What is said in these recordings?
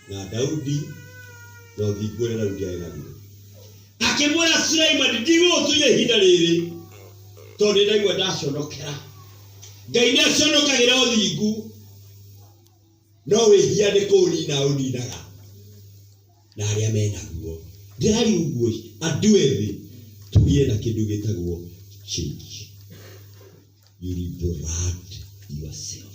na Daudi na ũthingu ũrĩa Daudi arĩ naguo. Akĩmwĩra Suleimani, ndigũgũtunya ihinda rĩrĩ tondũ nĩ ndaigua ndaconokera. Ngai nĩ aconokagĩra ũthingu no wĩhia nĩ kũũnina ũninaga na arĩa me naguo. Ndĩrari ũguo andũ ethĩ tũgĩe na kĩndũ gĩtagwo change. You liberate yourself.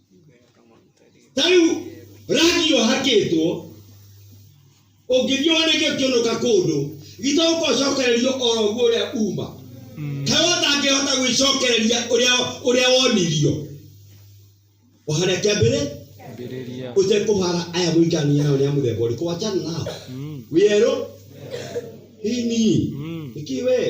ta rĩu rangi ũhakĩtwo ũngĩthiĩ woneke ũkĩũnũka kũndũ gitũ ũkocokererio oro guo ũrĩa uma kaĩ ũtangĩhota gwĩcokereria ũrĩa ũrĩa wonirio ũhare kĩambĩrĩ Ambĩrĩria. ũtekũhara aya mũikarania nao nĩ a mũthemba ũrĩkũ wachana nao Mm. wĩerũ ini Mm. nĩkĩ wee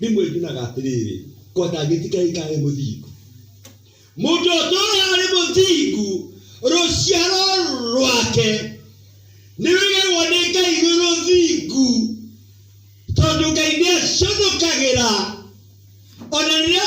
Rĩmwe njunaga atĩrĩrĩ, kwanja ngĩtikaĩ ngarĩ mũthingu. Mũndũ ũtũũraga arĩ mũthingu, rũciaro rwake nĩrũigagwo nĩ Ngai rwĩ rũthingu, tondũ Ngai nĩaconokagĩra ona rĩrĩa